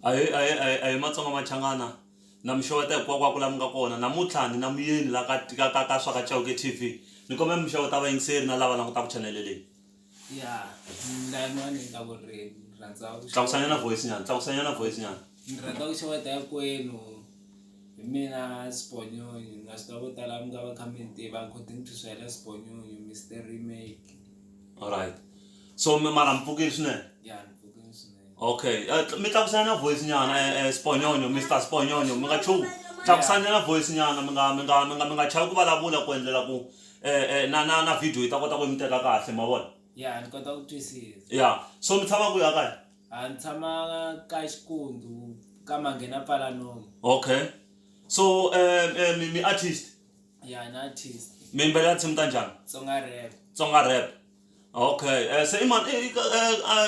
ahee ahee ahee ahee matsonga machangana na mi xeweta hinkwakwako laha mi nga kona namuntlha ni na muyeni la ka ka ka ka swa ka Chauke T_V ni kombela mi xeweta vayingiseri na lava langutaka chanele leyi. tlakusanyana voice nyana tlakusanyana voice nyana ni rhandza ku xeweta hinkwenu hi mina sibonyonyi na swi tiva vo tala mi nga va kha mi ni tiva according to swela sibonyonyi mr remake alright so mi mara mpfukile swinene ya ni pfukile swinene okay eh, tl- mi tlakusanyana voice nyana eh, eh, sibonyonyo mr sibonyonyo mi nga chuki tlakusanyana voice nyana mi nga mi nga mi nga mi nga chavi ku vulavula ku endlela ku e na na na video yi ta kota ku mi teka kahle ma vona ya ni kota ku twisisa ya so mi tshama kwihi a kaya a ni tshama ka xikundu ka manghena pfala nomu okay so um um mi artist ya ni artist mi yimbelela tinsimu ta njhani tsonga rap tsonga rap Okay se i mani i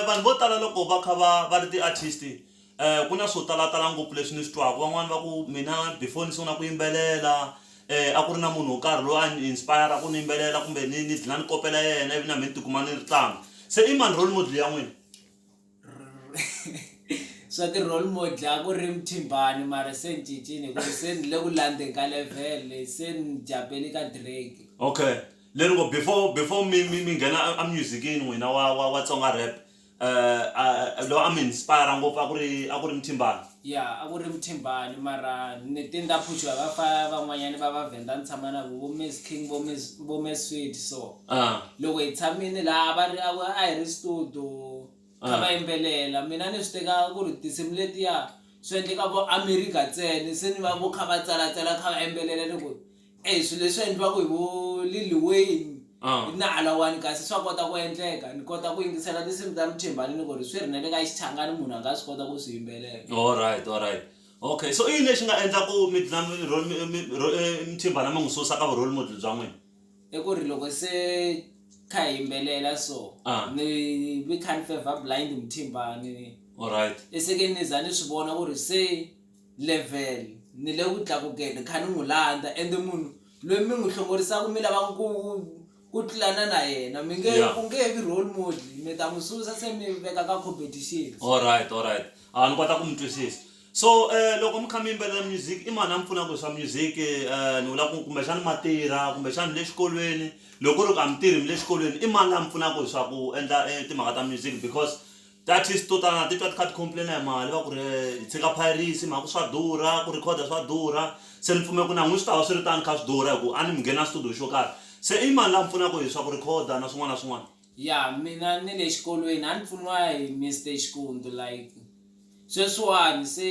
vanhu vo tala loko va kha va va ri ti-artist ku na swo talatala ngopfu leswi ni swi twaka van'wani va ku mina before ni sungula ku yimbelela a ku ri na munhu wo karhi loyi a ni inspire-a ku ni yimbelela kumbe ni ni dlina ni kopela yena ivi na me ni tikuma ni ri tano se i mani role model ya n'wina. swa ti-role model a ku ri mthimbani mara se ni cincile hikuva se ni le ku landzeni ka level leyi se ni japeli ka drake okay leri ngo before before mi mi mi nghena a- a musicini n'wina wa wa wa tsonga rap um loyi a mi inspire ngopfu a ku ri a ku ri mthimbani Ya a ku ri Muthembani mara ni te ni ta phuxiwa va fa van'wanyani va va Venda ni tshama na vo vo Miss King vo Miss vo Miss Sweet so Ah. loko hi tshamini laha va ri a ku a hi ri studio kha va yimbelela mina ni swi teka ku ri tinsimu letiya swi endleka vo America ntsena se ni va vo kha va tsalatsala kha va yimbelela ni ku Eyi swilo leswi endliwaka hi vo Lil Wayne hi na Alawani kasi swa kota ku endleka ni kota ku yingisela tinsimu ta Mthembani ni ku ri swi ri na le ka Xichangani munhu a nga swi kota ku swi yimbelela. Alright alright okay so i yini lexi nga endla ku mi dlina mi role mi mi ro Mthembani mi n'wi susa ka vu role model bya n'wina. I ku ri loko se kha hi yimbelela so ni ni kha ni fevha blind Mthembani alright i se ke ni za ni swi vona ku ri se Level, Ni le ku tlakukeni, ni kha ni n'wi landza, ende munhu loyi mi n'wi hlongorisaka mi lavaka ku ku tlulana na yena mi nge Yeah. u nge he vi role model mi ta n'wi susa se mi veka ka competition. Alright, alright. A ni kota ku mi twisisa. So eh loko mi kha mi yimbelela music i mani a mi pfunaka hi swa music eh ni vula ku kumbexana ma tirha kumbexana mi le xikolweni loko ku ri ku a mi tirhi mi le xikolweni i mani la mi pfunaka hi swa ku endla timhaka ta music because. Ti-artist to tala na titwa ti kha ti complain-a hi mali va ku ri hi tshika piracy hi mhaka ku swa durha ku record-a swa durha se ni pfumela ku na n'wina swi ta va swi ri tano kha swi durha hi ku a ni mi ngheni a studio xo karhi se i mani la mi pfunaka hi swa ku record-a na swin'wana na swin'wana. Ya mina ni le xikolweni a ni pfuniwa hi Mister Xikundzu like sweswiwani se.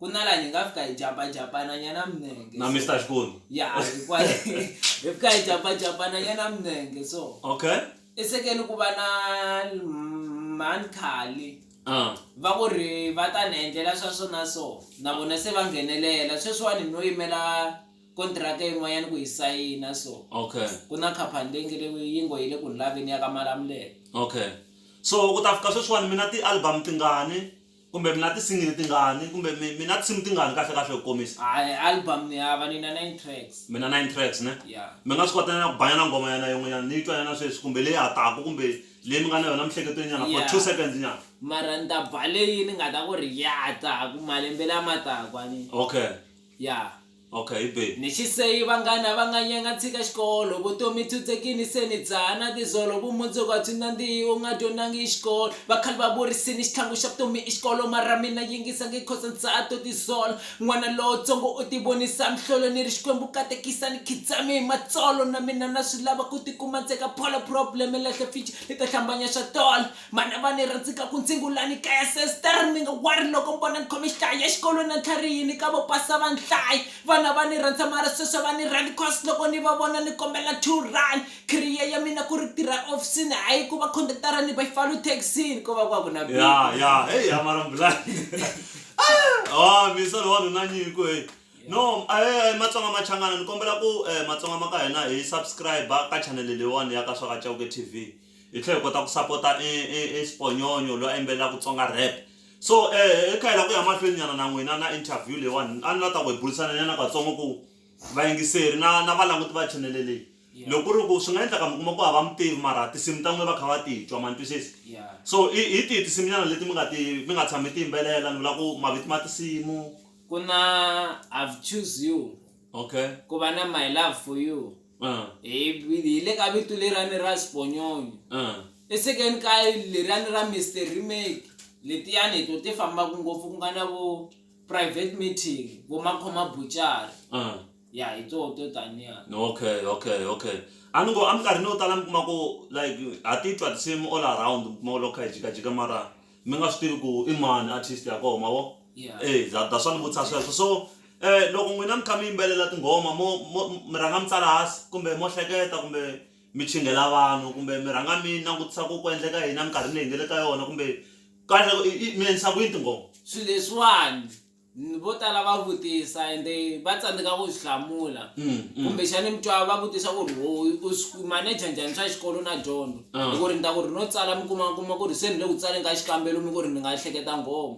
kunala ni nga fika hi japajapana nyana minenge na mr xikoni ya hikwale hi fika hi japajapana nyana minenge so okay esekeni ku va na mhani khali ah. va ku ri va ta ni endlela swa swona so na vona se va nghenelela sweswiwani no yimela kontiraka yin'wanyana ku yi sayina so okay ku na khaphani leyi nge le yi ngo yi le ku ni laveni ya ka malamulelo okay so ku ta fika sweswiwani mina ti-album tingani Kumbe mi na tisingili tingani? Kumbe mi mi na tinsimu tingani kahle kahle hi ku komisa? A e album ni hava ni na nine tracks. Mi na nine tracks ne? Ya. Mi nga swi kota nyana ku ba nyana nghoma nyana yin'we nyana ni yi twa nyana sweswi kumbe leyi ha taka kumbe leyi mi nga na yona emiehleketweni nyana for two seconds nyana? Mara ni ta ba leyi ni nga ta ku ri ya ta ku malembe lama taka ni. Okay. Ya. Ok babe. Ni xiseyi vanghana va nga nyanga tshika xikolo vutomi tshutsekini se ni dzaha na tizolo vumundzuku a byi nandzihi u nga dyondangi i xikolo vakhale va vurisini xitlhangu xa vutomi i xikolo mara mina yingisa nge cos ni dzaha to tizola n'wana lontsongo u ti vonisa mhlolo ni ri xikwembu katekisa ni khidzami hi matsolo na mina na swi lava ku ti kuma ntseka pholo problem lahle fici ni ta hlambanya xatola Manava ni rhandzika ku ntsingu la ni kaya sester mi nga wari loko mi vona ni khome xihlaya ya xikolo na tlharihi ni ka vo pasa va ni hlaya vana va ni rhandza mara sweswi va ni rhandi cos loko ni va vona ni kombela two rand career ya mina ku ri tirha ehofisini hayi ku va conductor ni byfalu taxini ko va ku va ku na big ya ya hey ya mara mbulani ah mi solo wa nuna nyiko hey no eh, eh matsonga machangana ni kombela ku eh, matsonga ma ka hina hi subscribe ka channel leyiwani ya ka swaka chauke tv Hi tlhela hi kota ku sapota e Siponyonyo loyi a yimbelelaka Tsonga Rap. So hi kha hi lava ku ya mahlweni nyana na n'wina na interview leyiwani, a ni la ta ku hi burisana nyana katsongo ku vayingiseri na na valanguti va chanele leyi loko ku ri ku swi nga endleka mi kuma ku a va mi tivi mara tinsimu ta n'wina va kha va ti twa ma ni twisisa. So i hi tihi tinsimu nyana leti mi nga ti mi nga tshama mi ti yimbelela ni vula ku mavito ma tinsimu? Ku na I've choose you, ku va na My love for you. Ah, hi hi- hi le ka vito lerani ra sibonyonyo ah. esekeni ka lerani ra mr remake letiyani to ti fambaka ngopfu ku nga na vo private meeting vo makhoma buchari Ah. ya hi toho to taniya okay okay okay a ni ngo eminkarhini yo tala mi kuma ku like ha titwa tinsimu all around mi kuma ku loko kha hi jikajika mara mi nga swi tivi ku i mani artist ya koho mavo e za that's why ni vutisa sweswo so um loko n'wina mi kha mi yimbelela tinghoma mo mi rhanga mi tsala hansi kumbe mo hleketa kumbe mi chingela vanhu kumbe mi rhanga mi langutisa ku ku endleka yini eminkarhini leyi hi nga le ka yona kumbe kahle mi endlisa ku yini tinghoma swilo leswiwani. Vo tala va vutisa ende va tsandzeka ku swi hlamula. Kumbexani mi twa va vutisa ku ri, ho u swi maneja njhani swa xikolo na dyondzo? Hi ku ri ni ta ku ri no tsala mi kuma kuma ku ri se ni le ku tsaleni ka xikambelo mi ku ri ni nga hleketa nghoma.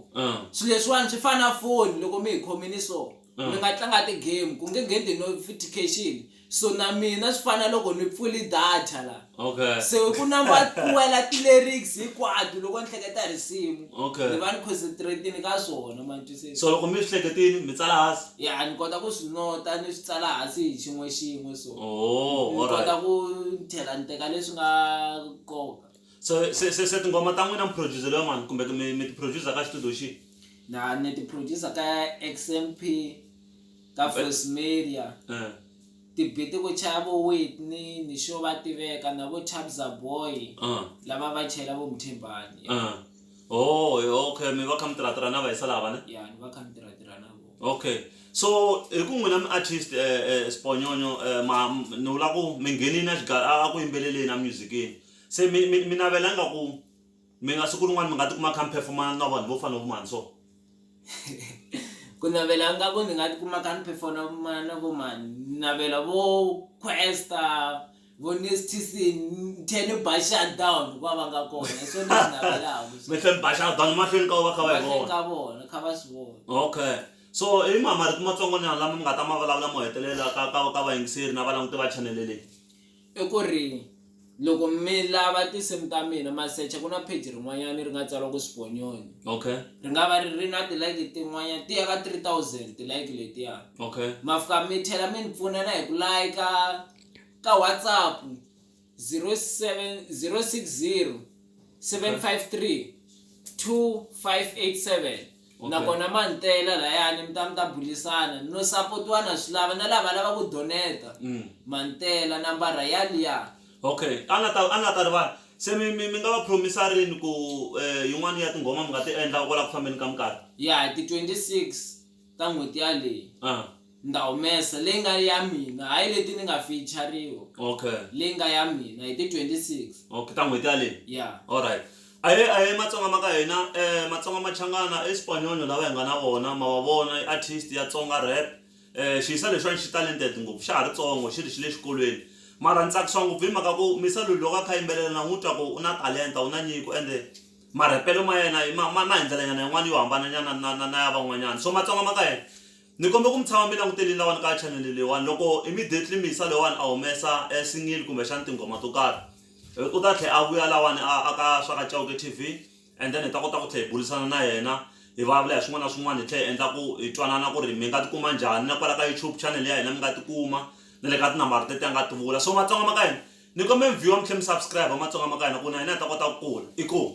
Swi leswiwani swi fana na foni loko mi hi khomini so mi nga tlanga ti-game ku nge ngheni ti-notification. So na mina swi fana loko ni pfuli data la. Okay. Se ku number twela ti lyrics hinkwato loko ni hleketa risimu. Okay. Ni va ni concentrate-ini ka swona ma twisisa. So loko mi swi hleketini mi tsala hansi? Ya ni kota ku swi nota ni swi tsala hansi hi xin'we xin'we so. Oh, all right. Ni kota ku ni tlhela ni teka leswi nga nkoka. So se se se tinghoma ta n'wina mi produce-riwa mani kumbe mi mi ti produce ka xitudiyo xihi? Na ni ti produce ka XMP. ka Voice Media. Eh. Tibiti ku chaya vo Whitney ni xo va tiveka na vo Chabza Boy Uh. lava va chayela vo Mthimbani. Eh. Oh, eh, okay, mi va kha mi tirhatirha na vahisa lava ne? Ya ni va kha ni tirhatirha na vona. Okay. So hi ku n'wina mi artist eh eh Sibonyonyo eh ma m- ni vula ku mi nghenini a xiga a a ku yimbeleleni a music-ini. Se mi mi mi navela nga ku Mi nga siku rin'wana mi nga tikuma mi kha mi phefomana na vanhu vo fana na vo mani so? Ku navela ingaku ni nga tikuma ni kha ni phefomana na vo mani, ni navela vo Kwesta, vo Nestyc ni tlhe ni ba shut down loko va va nga kona hi swo leswi navelaku swo. Mi tlhe mi ba shut down emahlweni ka vo va kha va hi vona? Emahlweni ka vona kha va swi vona. Okay so i mahi marito matsongonyana lama mi nga ta ma vulavula mo hetelela ka ka ka vayingiseri na valanguti va chanele leyi? I ku ri loko mi lava tinsimu ta mina ma secha ku na page rin'wanyana ri nga tsariwa ku Sibonyoni okay ri nga va ri ri na tilike tin'wanyana ti ya ka 3000 tilike letiya okay ma fika mi tlhela mi ni pfuna na hi ku layika ka whatsapp 07 060 753 2587 Okay. nakona ma ni tela layani mi ta mi ta bulisana no sapotiwa na swi lava na lava lava ku doneta Mm. ma ni tela nambara ya liya okay a nga ta a nga ta rivala se mi mi mi nga va promisa rini ku eh, yin'wana ya tinghoma mi nga ti endla kwala ku fambeni ka minkarhi ya hi ti 26 ta n'hweti yaleyi ah Ni ta humesa leyi nga ya mina, hayi leti ni nga fiyichariwa. Okay. Leyi nga ya mina hi ti 26. Okay, ta n'hweti yaleyi? Yeah. Alright. Ahee ahee matsonga ma ka hina eh matsonga machangana i spanyoño lava hi nga na vona ma va vona i artist ya tsonga rap eh xiyisa lexiwani xi talented ngopfu xa ha ri tsongo xi ri xi le xikolweni mara ni tsakisiwa ngopfu hi mhaka ku mi se loko a kha a yimbelela na n'wu twa ku u na talenta u na nyiko ende marhepelo ma yena ma ma ma hi ndlela nyana yin'wani yo hambana nyana na na na ya van'wanyana so matsonga ma ka hina Ni kombe ku mi tshama mi langutelini lawani ka chanele leyiwani loko immediately mixer loyiwani a humesa e single kumbe xana tinghoma to karhi u ta tlhe a vuya lawani a a ka swa ka Chauke T_V and then hi ta kota ku tlhe hi bulisana na yena hi vulavula hi swin'wana na swin'wana hi tlhe hi endla ku hi twanana ku ri mi nga tikuma njhani na kwala ka YouTube chanele ya hina mi nga tikuma na le ka tinambara teti a nga ti vula so matsonga ma ka hina ni kombela mi viewer mi tlhe mi subscribe matsonga ma ka hina ku na hina hi ta kota ku kula inkomu.